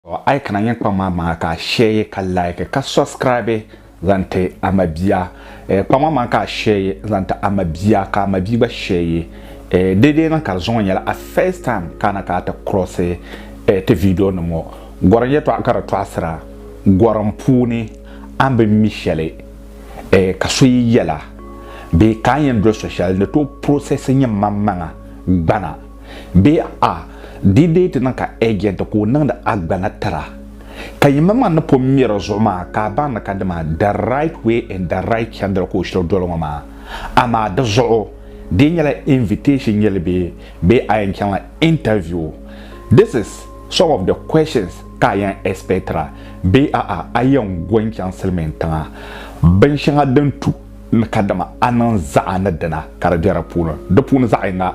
A yi kana yɛn kpaŋ maa maŋa ka a shɛɛyi ka laiki ka sɔbsikiraabi zaŋ ti a mabia. Kpaŋ maa maŋa ka a shɛɛyi zaŋ ti a mabia ka a mabia gba shɛɛyi. Deedeei na ka di zuŋɔ nyɛla a first time ka a na ka a ti cross ti video nim ŋɔ. Gɔrim yɛtɔɣa ka di tɔɣisira gɔrim puuni a ni bi mi shɛli ka so yi yɛla bee ka a ni yɛn doli so shɛli ni tooi process nyɛ maŋmaŋa gbana. Bee a di deei ti niŋ ka ɛjɛnti ka o niŋdi a gbana tira ka yimaŋmaŋ ni pun mi di zuɣu maa ka a baŋ ni ka dima the right way and the right chandira ka o shiri doli ŋɔ maa? Amaa di zuɣu dii nyɛla invitation yɛli bee bee a yɛn chaŋla interview? This is some of the questions ka a yɛn expectira bee a'a a yɛn go n-chaŋ Silimiin tiŋa bin shɛŋa din tu ni ka dima a niŋ zaɣa ni dina ka di be di puuni di puuni zaɣa yiŋga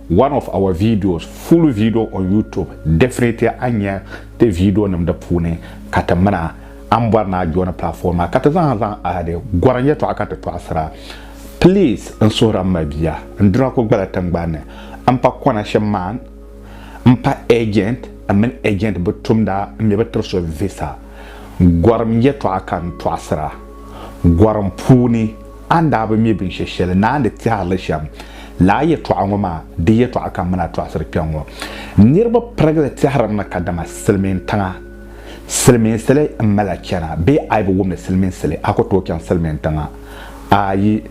One of our videos full video on YouTube definitely a nya ti video nim di puuni ka ti mina a ni bɔri ni a joini platform maa ka ti zaa zaŋ ahadi gɔrim yɛtɔɣa ka ti tɔɣisira please n suhiri m mabia n duna ku gbala tiŋgbani m pa connection man m pa agent m mini agent bi tumda m mi bi tiri so visa gɔrim yɛtɔɣa ka n tɔɣisira gɔrim puuni A ni daa bi mi binshɛ shɛli ni a ni tɛhiri li shɛm lala yɛtɔɣa ŋɔ maa, di yɛtɔɣa ka m mini a tɔɣisiri kpɛŋŋɔ. Niriba pirigili tɛhirimi kadama silimiintiŋa silimiinsili m-mali a chana bee a yi bi wum ni silimiinsili a ku tooi chaŋ silimiintiŋa? Aayi.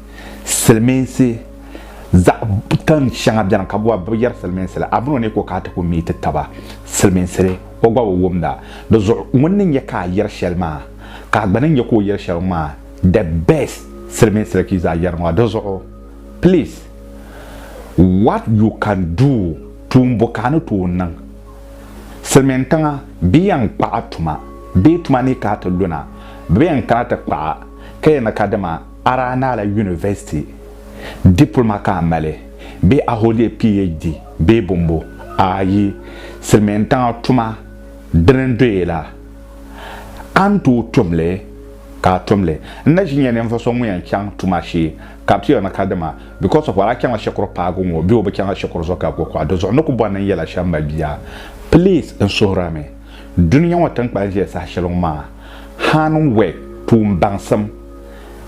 Silimiinsi zaɣ tin shɛŋa beni ka bɛ bi yɛri silimiinsili. A mini o ni ku ka a ti ku mi ti taba silimiinsili o gba bi wumda. Di zuɣu ŋun ni nya ka a yɛri shɛli maa ka a gba ni nya ka o yɛri shɛli ŋɔ maa The best silimiin siriki zaa yɛri maa di zuɣu please what you can do tuun bo ka a ni tooi niŋ silimiin tiŋa bɛ yɛn kpaɣi tuma bee tuma ni ka a ti luna bɛ bi yɛn kana ti kpaɣi ka yɛli ni ka dama araa ni a la university diploma ka a mali bee a hold a PHD bee bombo ayi silimiin tiŋa tuma dini n-doya la a ni tooi tumli ka a tum li. N na ʒi nya ninvuɣ so ŋun yɛn chaŋ tuma shee, ka a ti yɔn na ka dima, because of what? A chaŋla shikuru paagu ŋɔ bee o bi chaŋla shikuru zuɣu ka gbubi kuɣa? Di zuɣu n ni ku bɔri ni n yɛla shɛm mali bia? Please, n suhir a mi, dunia ŋɔ tiŋkpan ʒiya saha shɛli ŋɔ maa, hand work, tuun baŋsim,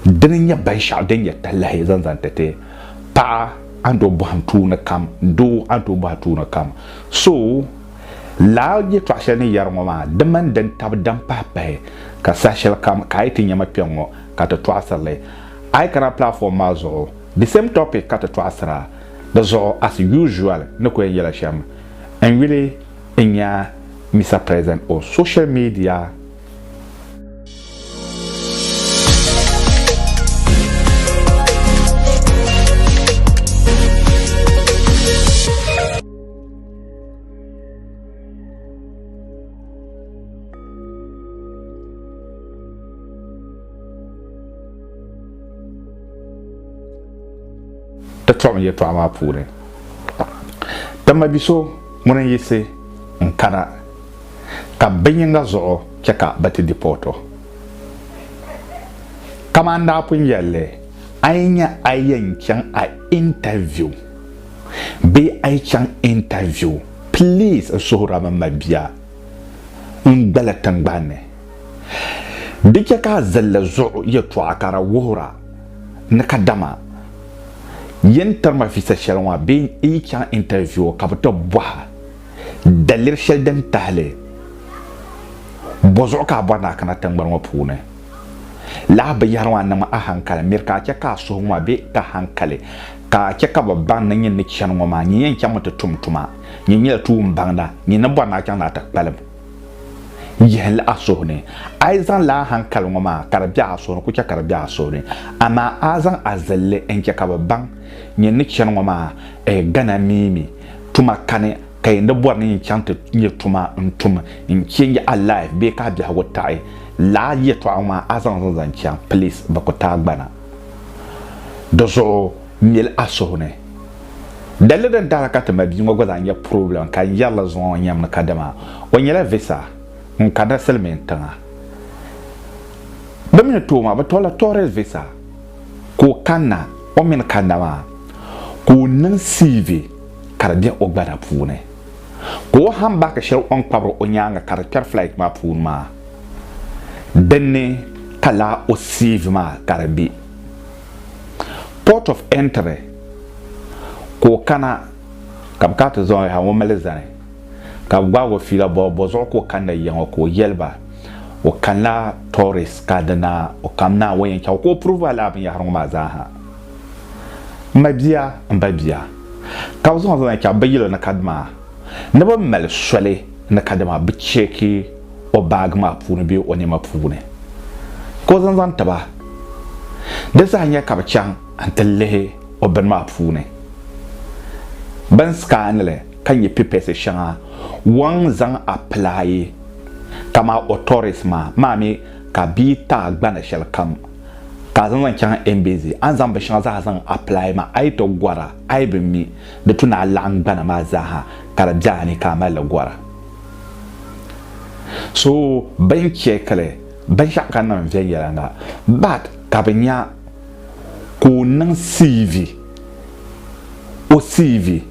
dini n-nyɛ binshɛɣu din nyɛ talahi zaŋ zaŋ ti ti paɣa a ni tooi bɔhim tuuni kam, doo a ni tooi bɔhi tuuni kam. So. Lala yɛtɔɣ shɛli ni yɛri ŋɔ maa, di mini din tabi din pahi pahi ka saha shɛli kam ka a yi ti nya ma kpɛŋŋɔ ka ti tɔɣisiri li, a yi kana platform maa zuɣu, the same topic ka ti tɔɣisir a. Di zuɣu as usual ni ku yɛn yɛla shɛm, n yuli n nya Mister President on social media. ti tɔɣim yɛtɔɣa maa puuni dama bi so ŋuni n yisi n kana ka binyinga zuɣu chɛ ka bɛ ti dipɔɔto kaman daa pun yɛlli a yi nya a yɛn chaŋ a intaviu bee a yi chaŋ interview please n suhiri a mini ma bia n gbali tingbani ni di chɛ ka a zilli zuɣu yɛtɔɣa ka di wuhira ni kadama yin tiri ma visa shɛli ŋɔ bee n yi chaŋ interview ka bi ti bɔha daliri shɛli din tahili bɔ zuɣu ka a bɔri ni a kana tingbani ŋɔ puuni. Lahi binyɛhiri maa niŋ ma ahankali miri ka a chɛ ka a suhu ŋɔ be ka hankali, ka a chɛ ka bɛ baŋ ni nyin ni chani ŋɔ maa, nyin yɛn chaŋmi ti tum tuma. Nyin nyɛla tuumbaŋda, nyin ni bɔri ni a chaŋ ni a ti kpalim yihinli a suhu ni. A yi zaŋ lala ahankali ŋɔ maa ka di be a suhu ni, ku chɛ ka di be a suhu ni. Amaa a zaŋ a zilli n-chɛ ka bɛ baŋ nyin ni chani ŋɔ maa, gana mi mi tuma kani. ka yi ni bɔri ni yi chaŋ ti nyɛ tuma n-tum n-change a life bee ka a biɛhigu taɣi lala yɛtɔɣa ŋɔ maa a zaŋ li n-zaŋ chaŋ please bɛ ku taai gbana di zuɣu mili a suhu ni. Dalili din tahi la ka ti ma bia ŋɔ gba zaa nyɛ problem ka n yɛri li zuŋɔ ŋɔ nyɛmi ni kadama o nyɛla visa n-kanila Silimiin tiŋa bɛ mi ni tooi maa bɛ tɔrila tourist visa ka o kanna o mi ni kanna maa ka o niŋ CV ka di be o gbana puuni ka o hambaki shɛli o ni kpabiri o nyaaŋa ka di kpɛri flight maa puuni maa dinni ka laa o CV maa ka di be port of entry ka o kana ka bɛ kana ti zaŋ o yaha o mali zani ka bɛ gbaag o fiila bɔ bɔ zuɣu ka o kani ni yiŋɔ ka o yɛli ba o kanila tourist ka dina o kam naawuni yɛn chaŋ o ka o prove a laa binyɛhiri ŋɔ maa zaa ha m ma bia m ba bia ka bɛ zaŋ zaŋ ya chaɣ bɛ yili ni kadama ni bɛ mali soli ni kadama bɛ cheeki o baagi maa puuni bee o nɛma puuni ka o zaŋ zaŋ ti ba. Di zaa n-nyɛ ka bɛ chaŋ n-ti lihi o bini maa puuni. Bɛ ni sikaani li ka nya pipɛsi shɛŋa wɔŋ zaŋ apilaayi kamaa otoris maa, maa mi ka bɛ yi taai gbana shɛlikam. Ka a zaŋ zaŋ chaŋ NBZ, a ni zaŋ bin shɛŋa zaaha zaŋ apply maa, a yi tɔb gɔra, a yi bi mi, di tu ni a laɣim gbana maa zaaha ka di be a ni ka a mali li gɔra. So bɛ ni check li binshɛɣu ka niŋ viɛnyɛliŋga but ka bɛ nya ka o niŋ CV, o CV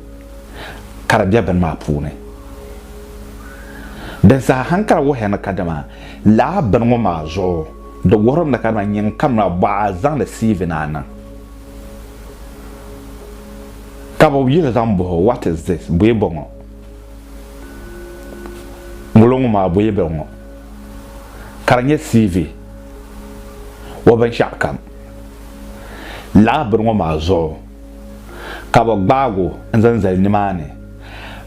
ka di be bini maa puuni. Din saha hankali wuhiya ni kadama. Lala bini ŋɔ maa zuɣu di wuhiri mi ka di nyin kamina bɔɣa a zaŋdi CV na niŋ ka bɛ yuli zaŋ bɔh o what is this? Bɔye bɔŋɔ? Ŋulo ŋɔ maa bɔye bɔŋɔ? Ka di nyɛ CV o binshɛɣu kam. Lala bini ŋɔ maa zuɣu ka bɛ gbaag o n-zaŋ zali nimaani.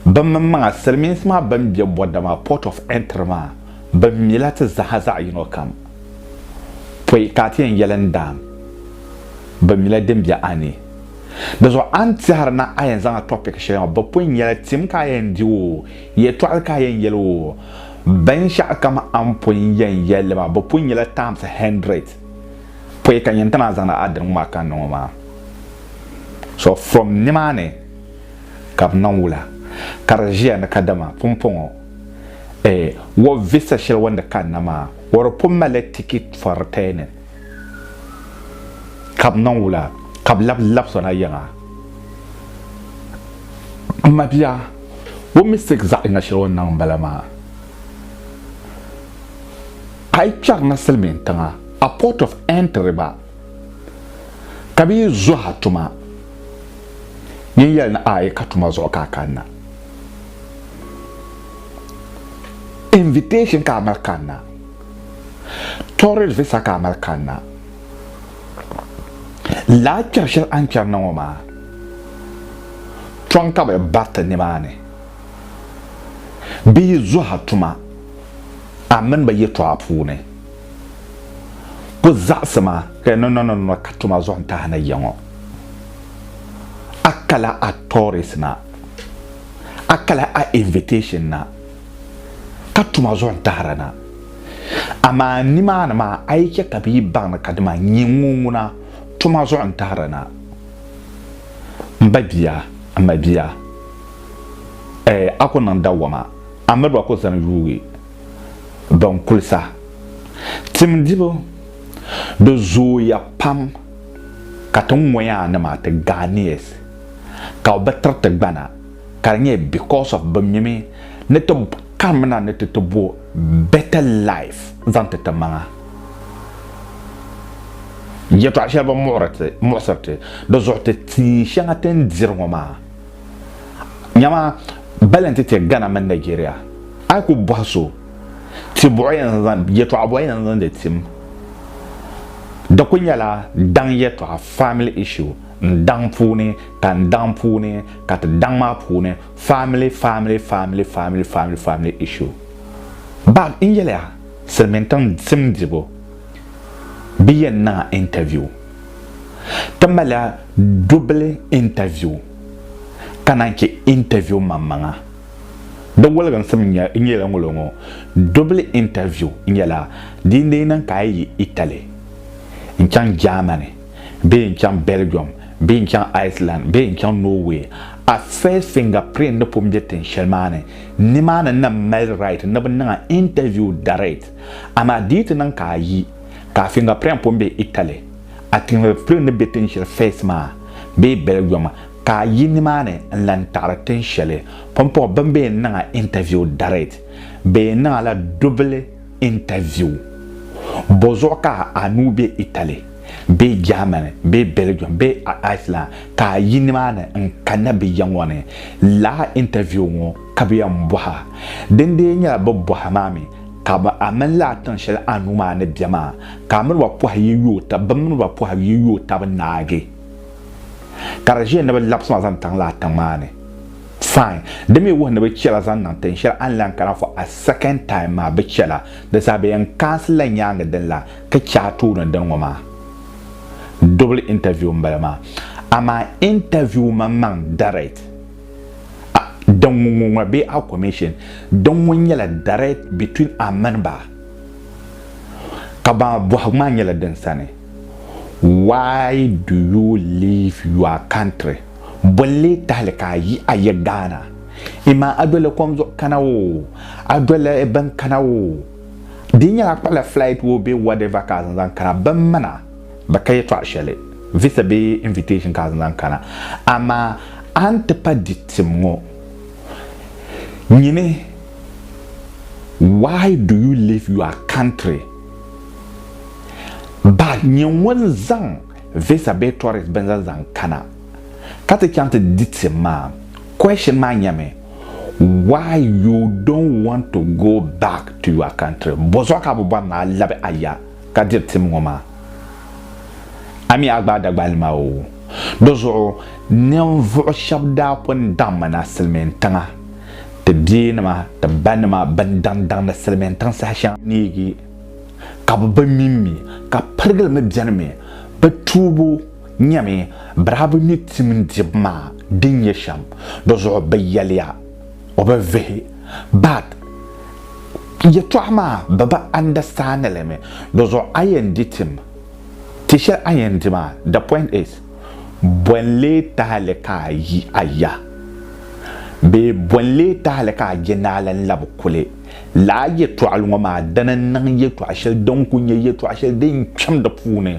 Bimmiŋmaŋa, Silimiinsi maa bɛn be Bɔda maa, Port of Entry maa, bɛ mila ti zaha zaɣ yino kam. Pɔi ka a ti yɛn yɛli n daam, bɛ mila din be a ni. Di zuɣu a ni tɛhiri na a yɛn zaŋla topic shɛli maa, bɛ pun nyɛla tim ka a yɛn di o, yɛtɔɣili ka a yɛn yɛli o, binshɛɣu kam a ni pun yɛn yɛli li maa, bɛ pun nyɛla times hundred. Pɔi ka n yɛn ti naan zaŋdi a dini ŋɔ maa ka n niŋ o maa. So from nimaani. ka bɛ niŋ wula ka di ʒiya ni kadama pumpɔŋɔ eh, wɔ visa shɛli o ni kanna maa o di pun malila tikit for returning ka bɛ niŋ wula ka bɛ labi labisɔna yiŋa. M ma bia, o mistake zaɣ yiŋa shɛli o ni niŋ m-bala maa. A yi kpɛri na Silimiintiŋa, a port of entry gba ka bi yi zuha tuma yin yɛli ni ayi ka tuma zuɣu ka a kanna invitation ka a mali kanna tourist visa ka a mali kanna laa kpɛri shɛli a ni kpɛri na ŋɔ maa tɔŋ ka bi bariti nimaani bi yi zuha tuma a mini bi yɛtɔɣa puuni Ku zaɣisi ma ka yi niŋ niŋ niŋ ka tuma zuɣu n-tahi na ya ŋɔ. A kala a tourist na, a kala a invitation na ka tuma zuɣu n-tahira na. Amaa nimaani maa a yi chɛ ka bɛ yi baŋ ni ka dima n-nyɛ ŋɔ ŋuna tuma zuɣu n-tahira na. M ba bia, m ma bia, ɛɛ a ku niŋ dawama, a miri ba ku zani yuui. din kulisa. Timdibu di zooya pam ka ti ŋoyaa nima ti Ghanaians ka o bi tiri ti gbana ka di nyɛ because of bi mimi ni ti kamina ni ti ti bo better life zaŋ ti ti maŋa. Yɛtɔɣa shɛli bi muɣisiri ti di zuɣu ti tia shɛŋa ti ni diri ŋo maa Nyama bali nti ti Ghana mini Nigeria. A yi ku bɔhi so, ti buɣi ya n-zaŋ, yɛtɔɣa bɔhi ya n-zaŋdi tim. Di ku nyɛla daŋ yɛtɔɣa, family issue, n-daŋ puuni ka n-daŋ puuni ka ti daŋ maa puuni, family, family, family, family, family, family issue. Bag n-yɛliya, Silimiintiŋ sim dibu bi yɛn niŋ a interview. Ti malila dubili intaviu ka naan chɛ intaviu maŋmaŋa. Di woliginsim nyɛla ŋolo ŋɔ, Dubili intaviu nyɛla di ni niŋ ka a yi yi Italy, n-chaŋ Germany bee n-chaŋ Belgium bee n-chaŋ Iceland bee n-chaŋ Norway, a face fingerprint ni pun be tin shɛli maa ni. Nimaani nam mali right ni bɛ niŋ a intaviu direct, amaa di yi ti niŋ ka a yi. Ka fingerprint pun be Italy, a tinhilipili ni be tin sheli Fez maa bee Belgium ka a yi nimaani n lan taɣiri tin sheli pumpɔŋɔ bɛ ni be niŋ a interview direct bee niŋ la double interview. Bɔzuɣu ka a nuu be Italy bee Germany bee Belgium bee Iceland ka a yi nimaani n kanna bɛ ya ŋɔ ni laa interview ŋɔ kabiya m-bɔhi a. Dindee nyɛla bɛ bɔhi ma mi. Ka bɛ a mini li a tiŋ shɛli a nuu maa ni be maa, ka a mini ba pɔhi yi yo tab, bɛ mini ba pɔhi yi yo tab naagi, ka di ʒiya ni bɛ labisi ma zaŋ taŋ li a tiŋ maa ni. Fine. Di mi wuhi ni bɛ chɛ la zaŋ niŋ tiŋ shɛli a ni lan kana for a second time maa, bɛ chɛ la. Di saha bɛ yɛn kaansi la nyaaŋa din lan ka chɛ a tooni n-dini ŋɔ maa. Double interview m-bala maa. Amaa interview maŋmaŋ direct. Din ŋun ŋun ŋɔ bee a commission din ŋun nyɛla direct between a mini ba ka ba bɔhigu maa nyɛla din sani why do you leave your country bolli tahali ka a yi a yi Ghana imaa a doli kom zuɣu kana o a doli bin kana o di nyɛla kpala flight o bee whatever ka a zaŋ zaŋ kana bin mana bɛ ka yɛtɔɣ shɛli, visa bee invitation ka a zaŋ kana, amaa a ni ti pa di tim ŋɔ, nyini, why do you leave your country? But nyɛ ŋun zaŋ visa bee tourist binza zaŋ kana ka ti chaŋ ti di tim maa, question maa nyɛmi, why you don't want to go back to your country? Bɔzuɣu ka a bi bɔri ni a labi a ya? ka diri tim ŋɔ maa. A mi a gbaai Dagbali maa oo. Di zuɣu ninvuɣ shɛb daa pun daŋmi na Silimiin tiŋa, ti beenima, ti banima bɛn daŋdaŋdi Silimiin tiŋ saha shɛŋa neegi ka bɛ bi mi mi ka pirigili mi bɛnimi. Bɛ tuubu nyɛmi bɛ daa bi mi tim dibu maa din nyɛ shɛm. Di zuɣu bɛ yɛliya. o bi vihi but yɛtɔɣa maa bɛ bi understand li mi di zuɣu a yɛn di tim ti shɛli a yɛn di maa the point is bɔ n lee tahili ka a yi a ya bee bɔ n lee tahili ka a je naala n labi kuli laa yɛtɔɣili ŋɔ maa dini n niŋ yɛtɔɣa shɛli din kuli nyɛ yɛtɔɣa shɛli din kpɛm di puuni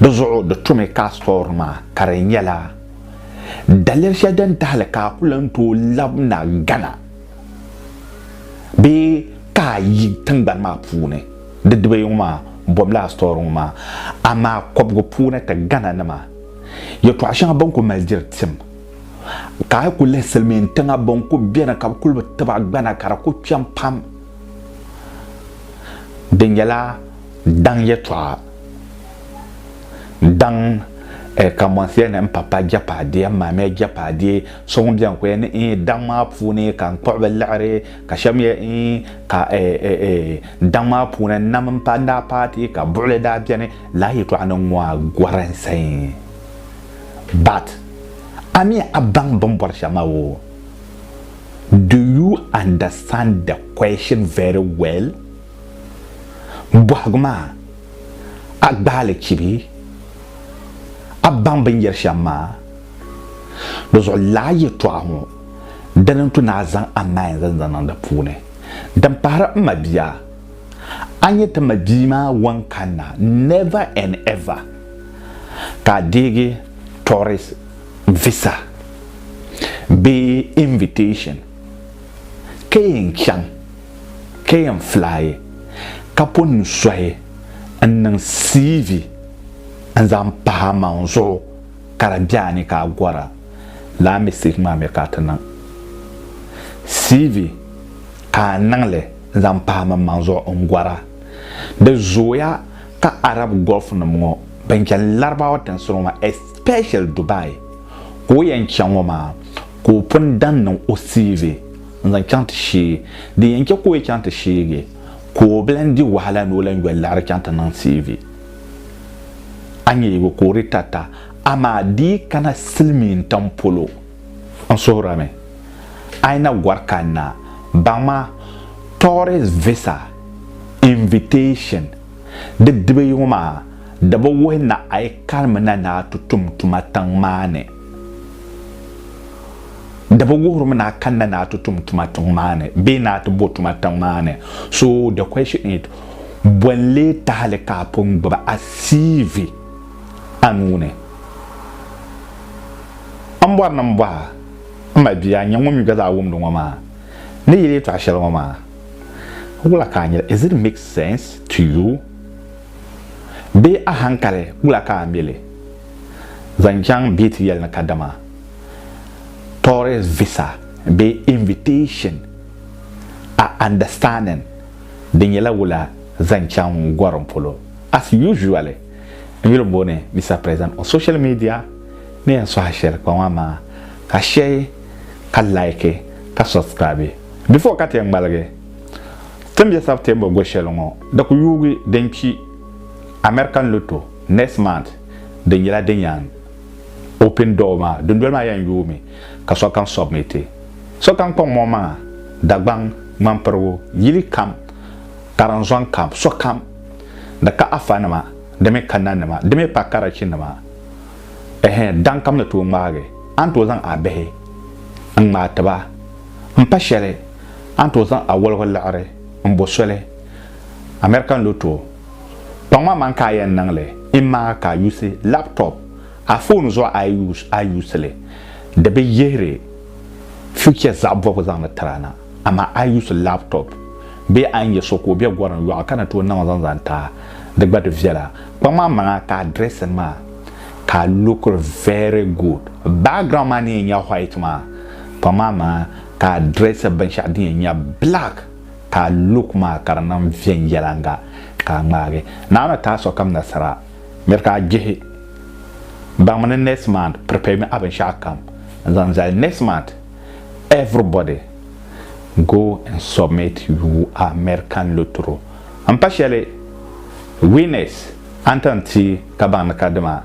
di zuɣu di tumi ka a story maa ka di nyɛla Daliya shɛli din tahili ka a ku lan tooi labina Ghana bee ka a yi tiŋgbani maa puuni, di dibayi ŋɔ maa bɔbila a sitɔri ŋɔ maa. Amaa kɔbigu puuni ti Ghana nima yɛtɔɣ shɛŋa bɛn ku mali diri tim, ka a yi ku lihi Silimiin tiŋa bɛn ku beni ka bɛ kuli bi tib a gbana ka di ku kpɛm pam, di nyɛla daŋ yɛtɔɣa. Daŋ eh, ka mɔnsiya ni n pa pa jɛpaadiya m maamiya jɛpaadiya so ŋun bɛn ku ya ni eh, daŋ maa puuni ka n kpuɣi bɛ liɣiri ka shɛba mi ya eh, ka eh, eh, eh, daŋ maa puuni n nam m pa n daa paati ka buɣili daa bɛni laa yɛtɔɣa ni ŋɔ a gɔri n sayin but a mi a baŋ bɛ ni bɔri shɛm maa woo do you understand the question very well? bɔhigu maa, a gbaai li chibi a baŋ bɛ ni yɛri shɛm maa. Di zuɣu lala yɛtɔɣa ŋɔ dini n-tu ni a zaŋ a main zali zaŋ niŋ di puuni. Din pahiri m mabia, a nyɛ ti mabia maa wan kanna never and ever ka a deegi tourist visa bee invitation ka yɛn chaŋ. ka yɛn filayi ka po n suhi n niŋ CV n zaŋ pahi a maŋ zuɣu ka di bɛ a ni ka a gɔra lala mistake maa mi ka a ti niŋ CV ka a niŋli n zaŋ pahi min maŋ zuɣu n gɔra di zooya ka Arab Gulf nim ŋɔ bin chani Larabawa tinsi ŋɔ maa especially Dubai ka o yɛn chaŋ ŋɔ maa ka o pun dan niŋ o CV. n-zaŋ chaŋ ti shee. Din yɛn chɛ ka o yi chaŋ ti sheegi ka o bi lan di wahala ni o lan yoli liɣiri chaŋ ti niŋ TV. A nya yi bi ku o di tata, amaa di yi kana silimiin tam polo. N suhirimi a yi na gɔri kanna, baŋma tourist visa invitation di dibayi ŋɔ maa di bi wuhi ni a yi karimina ni a ti tum tuma tiŋ maa ni. Di bi wuhirimi ni a kanna ni a ti tum tuma tiŋ maa ni bee ni a ti bo tuma tiŋ maa ni. So the question is, bɔ n-lee tahili ka a pun gbubi a CV a nuu ni? M bɔri ni m bɔh a, m ma bia, n-nyɛ ŋun mi gba zaa wumdi ŋɔ maa, ni yɛli yɛtɔɣ shɛli ŋɔ maa, wula ka a nyɛli? Is it make sense to you? Bee a hankali, wula ka a mi li? zaŋ chaŋ bɛ ti yɛli ni kadama tourist visa bee invitation a understanding di nyɛla wula zaŋ chaŋ gorim polo as usually n yuli booni Mister President on social media ni yɛn sohi shɛli kpaŋ maa maa ka share ka like ka subscribe before ka ti yɛn ŋmaligi tin bɛ September go shɛli ŋɔ di ku yuugi din kpi American lotto Next month di nyɛla din yan open door maa dundoli maa yan yoomi ka sokam submit sokam kpaŋ mɔŋ maŋa Dagbaŋ ŋmanpirigu yili kam karinzɔŋ kam sokam di ka Afa nima di mi ka nanima di mi pa Karachi nima ehe daŋ kam ni tooi ŋmaagi a ni tooi zaŋ a bihi n ŋmaai ti ba n pa shɛli a ni tooi zaŋ a wɔligu liɣiri n bo soli American lotto Kpaŋma man ka a yɛn niŋ li imaa ka a yusi laptop a foon zuɣu a yi a yusi li di bi yihiri future zaɣ bɔbigu zaŋdi tiri a na amaa a yusi laptop bee a ni yɛ so ka o be gorim yɔɣu ka ni tooi niŋ zaŋ zaŋ ti a di gba di viɛla kpaŋma man a ka a dressing maa ka a lookiri very good background maa ni yɛn nyɛ white maa kpaŋma man a ka a dressing binshɛɣu din yɛn nyɛ black Ka a luk maa ka di niŋ viɛnyɛlanga ka a ŋmaagi. Naɣimi ka a sokam nasara. Miri ka a jihi. Baŋmi ni next month preparemi a binshɛɣu kam n zaŋ zali next month everybody go and submit you American lottery n pa shɛli winners a ni tan ti ka baŋ ni ka dima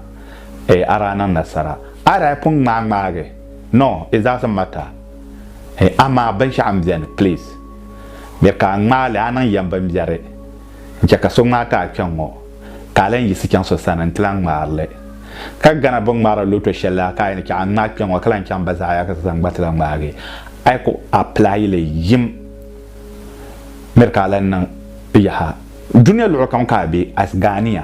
a daa niŋ nasara a daa pun ŋmaai ŋmaagi no it doesn't matter. Hey amaa binshɛɣu n beni please bɛ ka a ŋmaali a niŋ yɛm binbiɛri n chɛ ka so ŋmaai ka a kpɛŋ ŋɔ ka a lan yiɣisi chaŋ so sani nti lan ŋmaari li. Ka Ghana bi ŋmaari loto shɛli la ka a yi ni chɛ a ŋmaai kpɛŋ ŋɔ ka lan chaŋ Bazaaya ka so sani gba ti lan ŋmaagi a yi ku apply li yim miri ka a lan niŋ yaha. Dunia luɣu kam ka a be as Ghanea.